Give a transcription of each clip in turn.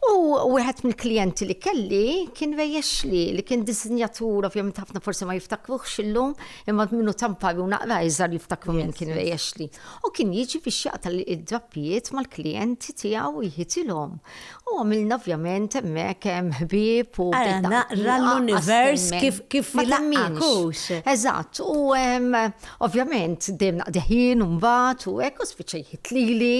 U wieħed mill-klijenti li kelli kien Ray Ashley, li kien disinjatur, ovvjament ħafna forsi ma jiftakruhx illum, imma minnu ta' mpari u naqra iżgħar jiftakru min kien Ray Ashley. U kien jiġi biex jaqta' d-drappijiet mal-klijenti tiegħu u jħitilhom. U għamilna ovvjament hemmhekk ħbieb u. Ara naqra l-univers kif kif ilaqqaq hux. Eżatt, u ovvjament dejjem naqdi ħin u mbagħad u hekk u spiċċa jħit lili.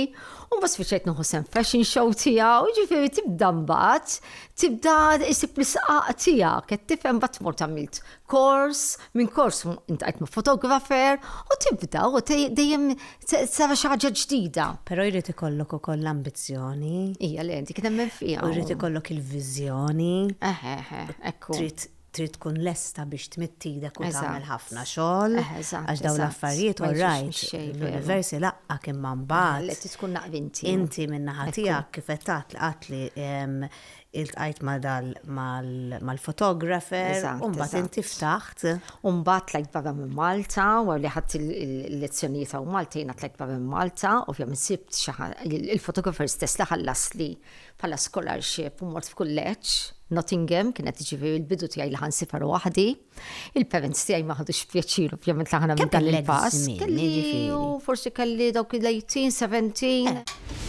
U mbagħad spiċċajt nieħu sem fashion show tiegħu, jiġifieri tibda mbagħad, tibda isib l-isqaq tiegħek, qed tifhem mbagħad tmur tagħmilt kors, minn kors intajt ma' fotografer u tibda u dejjem sara xi ħaġa ġdida. Però jrid ikollok ukoll l-ambizzjoni. Hija li dik nemmen fiha. U jrid ikollok il-viżjoni. Eħe, eħe, ekku. Trid trid tkun lesta biex tmidd idek u tagħmel ħafna xogħol. Għax dawn l-affarijiet u rajt l-universi laqqa kien ma mbagħad. Li tkun naqbinti. Inti min-naħa tiegħek kif qed tgħid qatt li iltqajt mal-fotografer u mbagħad inti ftaħt. U mbagħad tlajt barra minn Malta, wara li ħadd il-lezzjonijiet hawn Malta jiena tlajt barra minn Malta, ovvjament sibt xi ħadd il-fotografer stess li ħallasli bħala scholarship u mort f'kulleġġ Nottingham, kienet ġifieri l-bidu tiegħi li ħansifar waħdi. Il-parents tiegħi ma ħadux pjaċir ovvjament li ħana minn dan il-pass. Kelli u forsi kelli dawk il-18, 17.